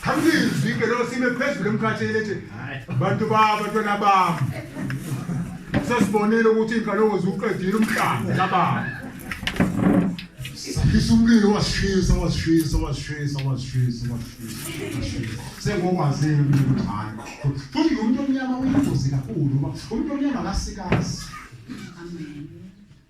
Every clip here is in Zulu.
Hamlizwi ke lo sime phezulu emkhathini ethi bantu baba ntwana baba. Sasibonile ukuthi inkalowo zuqedile umhlanga lababa. Sishisa umlilo wasishisa wasishisa wasishisa wasishisa wasishisa. Sengokwaziyo umuntu hayi. Futhi umuntu omnyama uyingozi kakhulu ngoba umuntu omnyama akasikazi. Amen.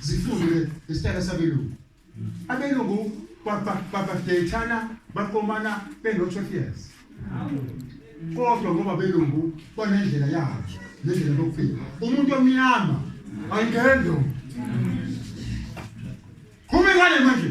Zifunde isitayela sabelungu. Abelungu babadethana baqomana beno-12 years. Kodwa ngoba belungu banendlela yabo nendlela yokuphila. Umuntu omnyama ayingendo. Kume ngale manje.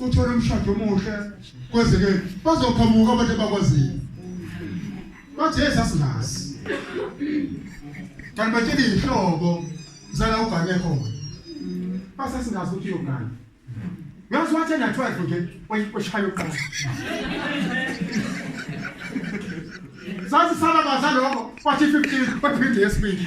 uthole umshado omuhle kwezeke bazoqhamuka abantu abakwaziyo bathi hey sasingazi kanti batshela iy'hlobo zala ugane khona basasingazi ukuthi uyogana ngazi wathi ena-twelve nje weshaya uqala sasisala bazaloko wathi fifteen waphinde yesibili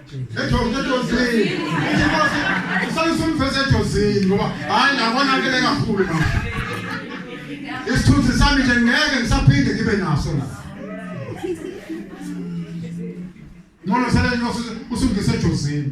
ejozini inkosi usalisa umfesi ejozini ngoba hhayi lakonakele kakhulu ma isithunzi sami nje ngeke ngisaphinde ngibe naso la ngcono sele usungise ejozini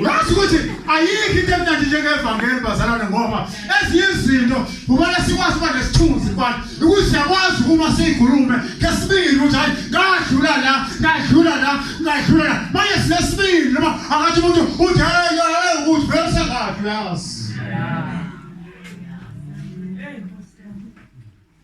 ngazi ukuthi ayikho into emnandi njengevangeli bazalwane ngoba ezinye izinto ubona sikwazi uba nesithunzi kwana ukuthi siyakwazi uma siyigulume ngesibili ukuthi hayi ngadlula la ngadlula la ngadlula la manje sinesibili noma akathi umuntu uthi hey ukuthi vele sengadlula yazi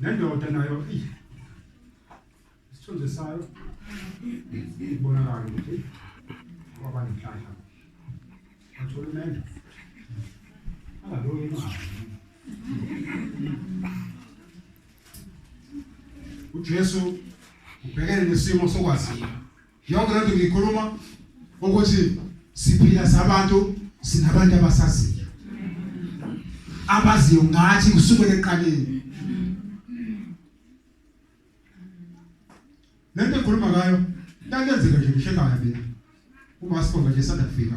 nendoda nayo eyi isithunzi sayo ibonakala ukuthi kwaba nenhlanhla athola imenda angaloyi imali uJesu ubhekene nesimo sokwaziwa Yonke lento ngikhuluma ukuthi siphila sabantu sinabantu abasaziyo. Abaziyo ngathi kusukela eqaleni. Lento ekhuluma ngayo yayenzeka nje ngisho kabi mina. Uma sibonga nje sanda kufika.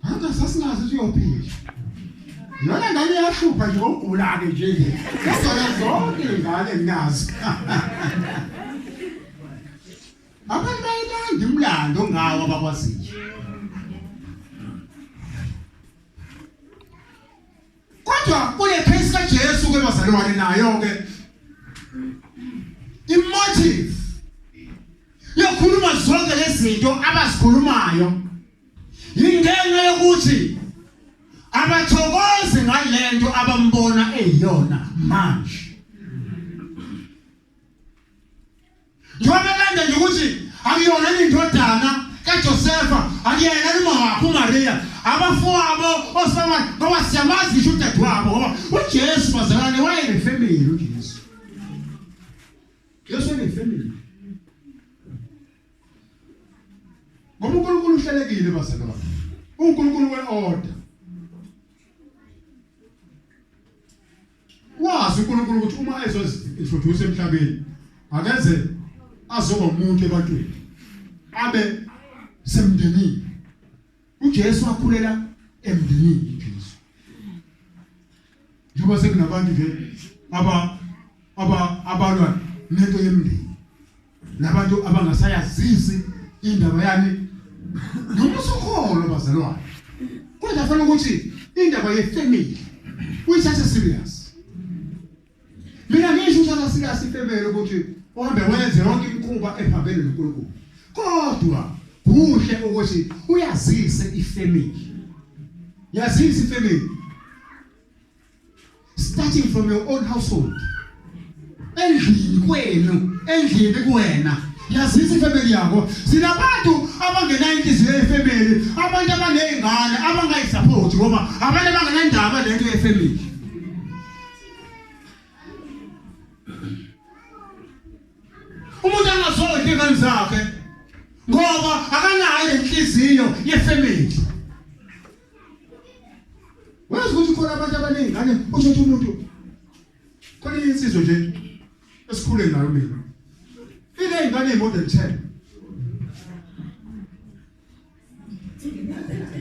Hamba sasingazi uyophila. Lona ngane yahlupha nje ngokugula ke nje. Ngisona zonke ingane nginazi. Abantu bayilanda umlando ngawo abakwaziyo. Kodwa kule case kaJesu ke bazalwane nayo ke imotive yokhuluma zonke lezinto abazikhulumayo Yingenxa yokuthi abathokozi ngalento abambona eyiyona manje. Njengoba belanda nje ukuthi akuyona indodana kaJosefa, akuyena uMawakhe uMariya, abafowabo osama ngoba siyamazi ngisho udadewabo ngoba uJesu bazalwane wayenefamily uJesu. Yesu unefamily. Ngoba uNkulunkulu uhlelekile bazalwane. UNkulunkulu weorder. Wazi uNkulunkulu ukuthi uma ezozintroduce emhlabeni akenze azoba umuntu ebantwini abe semndenini uJesu wakhulela emndenini iJesu njengoba sekunabantu nje aba aba abalwa nento yemndeni nabantu abangasayazisi indaba yani noma sokholo bazalwane kodwa fanele ukuthi indaba yefamily uyithathe serious Mina ngisho ukuthi akasikasi ifebelo ukuthi uhambe wenze yonke imikhuba ephambene noNkulunkulu. Kodwa kuhle ukuthi uyazise ifamily. Yazise ifamily. Starting from your own household. Endlini kwenu, endlini kuwena. yazisa ifamily yakho sinabantu abangenayo inhliziyo yefamily abantu abanezingane abangayisupport ngoba abantu abangenandaba lento yefamily umuntu angazondli ingane zakhe ngoba akanayo inhliziyo yefamily wazi ukuthi khona abantu abaningi ngane usho ukuthi umuntu khona insizwe nje esikhule ngayo mina ineyingane more than 10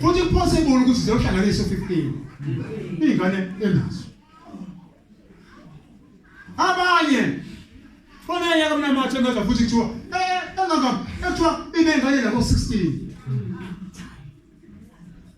futhi possible ukuthi sizohlanganisa 15 ingane enazo abanye bona yaka mina mathe ngaza futhi kuthiwa eh engaka ekuthiwa inengane lapho 16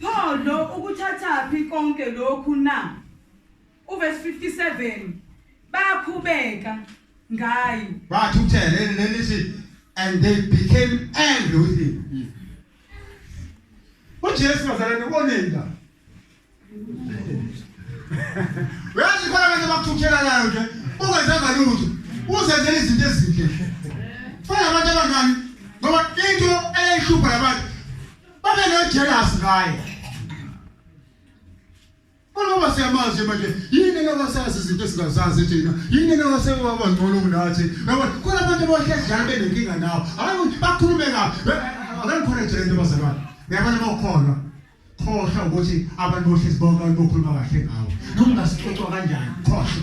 Pho lo ukuthathaphi konke lokhu na? Uverse 57 bakhubeka ngayo. Bathukuthele yini nelithi and they became angry with him. UJesu wazalana uboneni la? Uyazi khona abantu abakuthukhelanayo nje ungenzanga lutho uzenzela izinto ezinhle. Fana abantu abangani ngoba into eyayihlupha labantu Babe no jealous ngaye. Ngoba siyamazi manje yini engasazi izinto esingazazi thina yini engasazi waba ngcono kunathi ngoba khona abantu abahlezana benenkinga nawo hayi bakhulume kabi akangikhona nje lento bazalwane ngiyabona bawukhona khohlwa ukuthi abantu bohlezi bonke abantu bokhuluma kahle ngawo noma ungasixoxwa kanjani khohlwa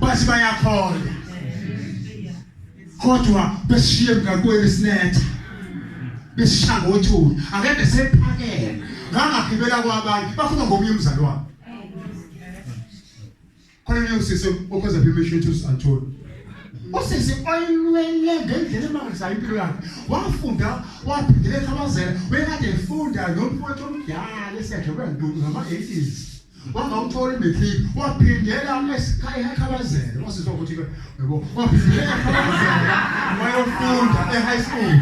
bathi bayakholwa kodwa beshiye emgaqweni sinetha besisha ngothuli akebe sephakela ngangagibela kwabanye bafuna ngomunye umzali wabo khona nje usisi okhoza phi mission to Antoni usisi oyilwele ngendlela emangalisayo impilo yakhe wafunda waphindela ekhabazela wekade efunda nomfowethu omdala esiyakhe kwendulu ngama-80s Mama uthola imatric waphindela ekhaya ekhabazela wasizwa ukuthi ke yebo waphindela ekhabazela wayofunda e-high school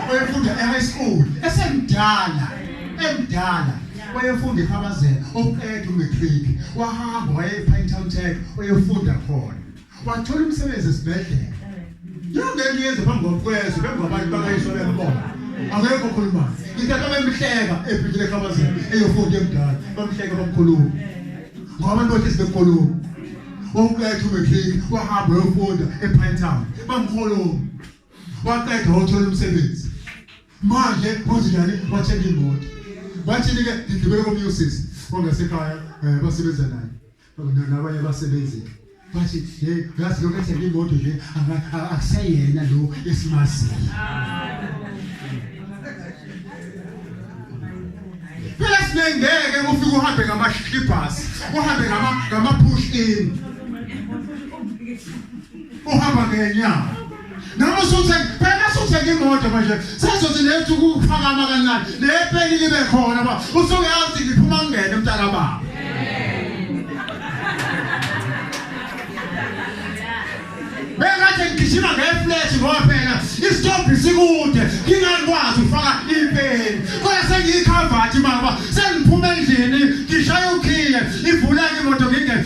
wayofunda e-high school esemdala emdala wayofunda ekhabazela oqeda umatric wahamba waye-pinetown tech wayofunda khona wathola umsebenzi esibhedlela yonke into yenze phambi kokwezwe bemva abantu bakayisho bembona akekho okhuluma ngithatha bemhleka ephikile ekhabazeni eyofunda emdala bamhleka bamkhuluma ngoba abantu bathi sibekhuluma wawuqetha umatric wahamba uyofunda epine town bamkhuluma waqeda wawuthola umsebenzi manje kwenzenjani wathenga imoto wathini-ke ngigibele komyusisi ongasekhaya um basebenza naye Nona nabanye abasebenzi bathi hey ngazi lokho ethe imoto nje akuseyena lo esimaziyo. Phela sinengeke ufike uhambe ngama slippers, uhambe ngama ngama push in. Uhamba ngenyawo. Noma usuthe phela usuthenge imoto manje sezothi lethu kuphakama kancane nepeni libe khona ba usungazi liphuma ngene mntaka baba. Bengathi ngigijima ngeflash ngoba phela isitobhi sikude ngingakwazi ukufaka impeni. Kodwa sengiyikhavathi mama sengiphuma endlini ngishaya ukhiye ivuleke imoto ngingene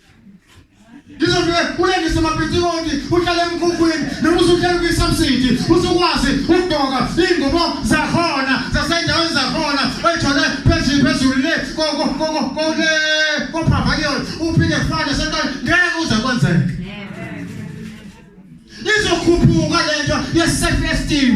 ngizofike ulengise amapitikondi uhlale emkhukhwini noma usuhlele kwisubsidi usukwazi ukudoka iy'ngubo zakhona zasendaweni zakhona oyithole phezulu phezulu le kophavakiyona uphinde fane senkani ngeke uze kwenzeke izokhuphuka le nto ye-self esteem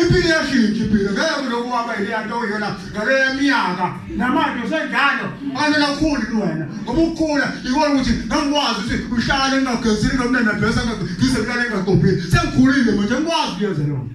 impilo iyashintsha impilo ngeke uloku waba ileyonto oyiyona ngaleya miyaka namanje usenjalo abantu kakhulu kuwena ngoba ukukhula ikona ukuthi ngangikwazi ukuthi uhlale ngingagezile ngomnenabhesa ngize kulale ngingagobhile sengikhulile manje ngikwazi ukuyenza loo nto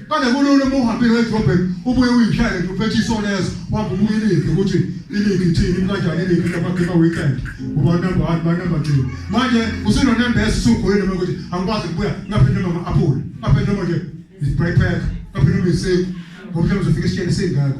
Kade kulula uma uhambile edrobheni ubuye uyihlale nje uphethe isonezo wambe ubuye iliphi ukuthi iliphi ithini imkanjani iliphi lamakhema weekend uba number one ba number two manje usunonembeza usugwini noma ukuthi angikwazi ukubuya ngaphinde noma ama-apula ngaphinde noma nje i-bright pack ngaphinde noma isiku ngoba mhlawumbe uzofika esitsheni singakho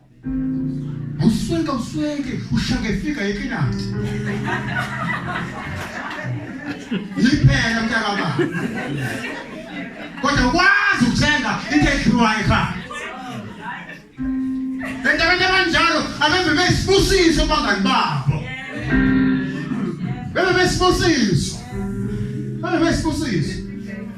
Usweka usweke ushaka efika yekinati. Yiphela mntaka baba. Kodwa ukwazi ukuthenga into edliwayo ekhaya. Lento abantu abanjalo abeve besibusise abangani babo. Bebe besibusise. Bebe besibusise.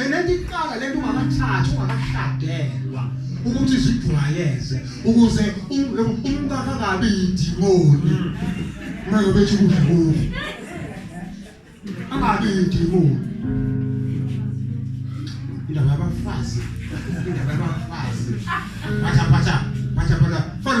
Enento iqala lento ungamathatha ungamashadelwa ukuthi zijwayeze ukuze umuntu akangabi idimoni mayo bethi kudla kufi angabi idimoni indaba yabafazi indaba yabafazi bacha bacha bacha bacha fana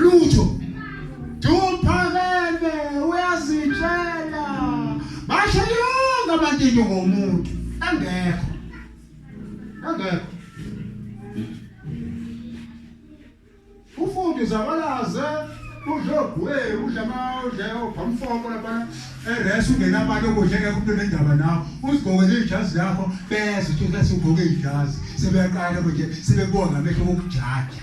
lutho duphakeme uyazitshela basho yonke abantu into ngomuntu angekho angekho ufundi zabalaze udlogwe udla amawudle obhamfoko lapha eres ungenamali okudla ngeke umuntu nendaba nawo uzigqokele ijazi lakho bese uthi uthi ugqoke ijazi sebeyaqala manje sebekuwa ngamehlo okujaja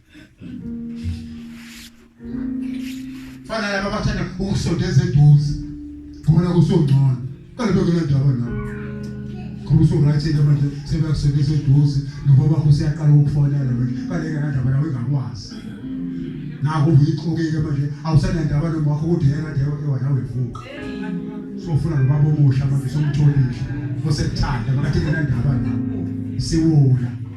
fana laba bathanda ukusondeza eduze khona kusongcono kodwa bekona ndaba nabo khona usongright yena manje sebeyakusondeza eduze noba bakho useyaqala ukufonela manje baleka kandaba nawe engakwazi nako uyiqokile manje awusanandaba noma wakho kodwa yena nje ewanawe evuka sofuna nobaba omusha manje somtholile osekuthanda makathi ngenandaba nawe siwula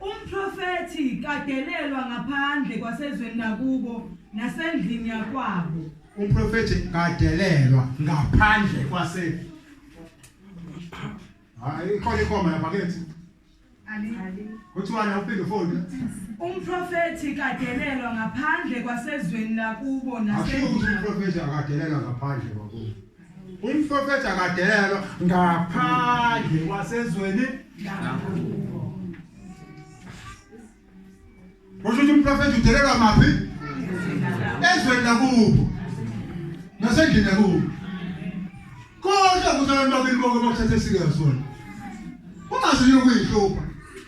Umprofethi kadelelwa ngaphandle kwasezweni lakubo nasendlini yakwabo. Umprofethi kadelelwa ngaphandle kwase Hayi ikhona ikoma lapha kethi. Ali. Kuthiwani awuphinde ufonde? Umprofethi kadelelwa ngaphandle kwasezweni lakubo nasendlini. Asho ukuthi umprofethi akadelelwa ngaphandle kwakubo. Umprofethi akadelwa ngaphandle kwasezweni lakubo. Kusho ukuthi umprofethi udelelwa maphi? Ezweni lakubo. Nasendlini yakubo. Kodwa kuthi abantu bakini bonke bakuthathe sike sona. Ungazi yini ukuyihlupha.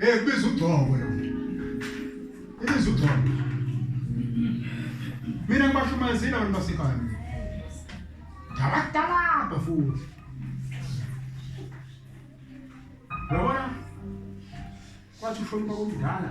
Eh kubiza ugcobo lo. Ibiza ugcobo. Mina ngibahlumayezile abantu basekhaya. Dala dala bafuthi. Yabona? Kwathi uhlonipha komdala.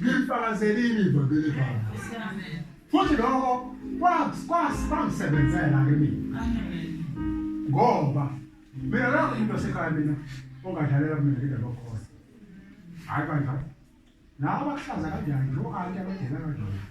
ngifakazelile ivangeli baba futhi lokho kwangisebenzela ke mina ngoba mina lapho umuntu osekhaya mina ongadlalela kumina ngida lokhoza hhayi kanjalo nabo abakuhlaza kanjani no-anti abadela kanjani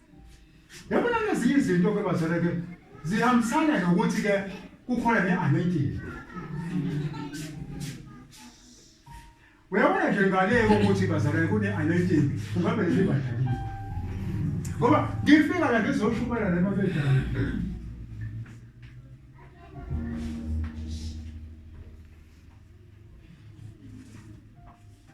Yabona ngezinye izinto ke bazele ke zihambisana nokuthi ke kukhona neanekile. Uyabona nje ngale ukuthi bazele kuneanekile ungabe libadalile. Ngoba ngifika la ngizoshubela lema bedala.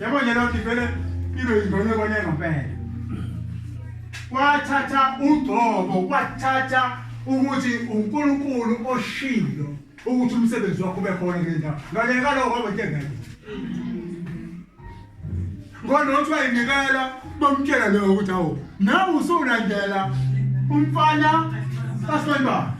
Yabo nje lokho vele ibe ingane kwenye ngempela. Kwathatha ugcobo, kwathatha ukuthi uNkulunkulu oshilo ukuthi umsebenzi wakho ube khona kule ndawo. Ngale kaloko kwaba into engeke. Kodwa uthi wayinikela bamtshela leyo ukuthi awu nawe usulandela umfana kaSoyibaba.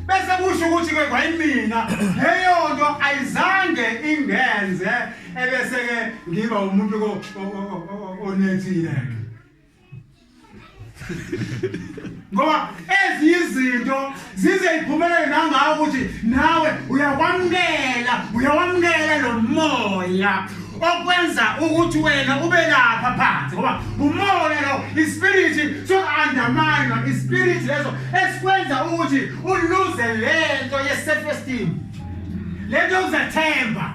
bese kusho ukuthi ke kwayimina leyo nto ayizange ingenze ebese ke ngiba umuntu onethile ngoba ezinye izinto zize iphumelele nangawo ukuthi nawe uyakwamukela uyakwamukela lo moya okwenza ukuthi wena ube lapha phansi ngoba umoya lo ispiriti so-underminwa ispiriti leso esikwenza ukuthi uluze le nto ye-self esteem le nto yokuzethemba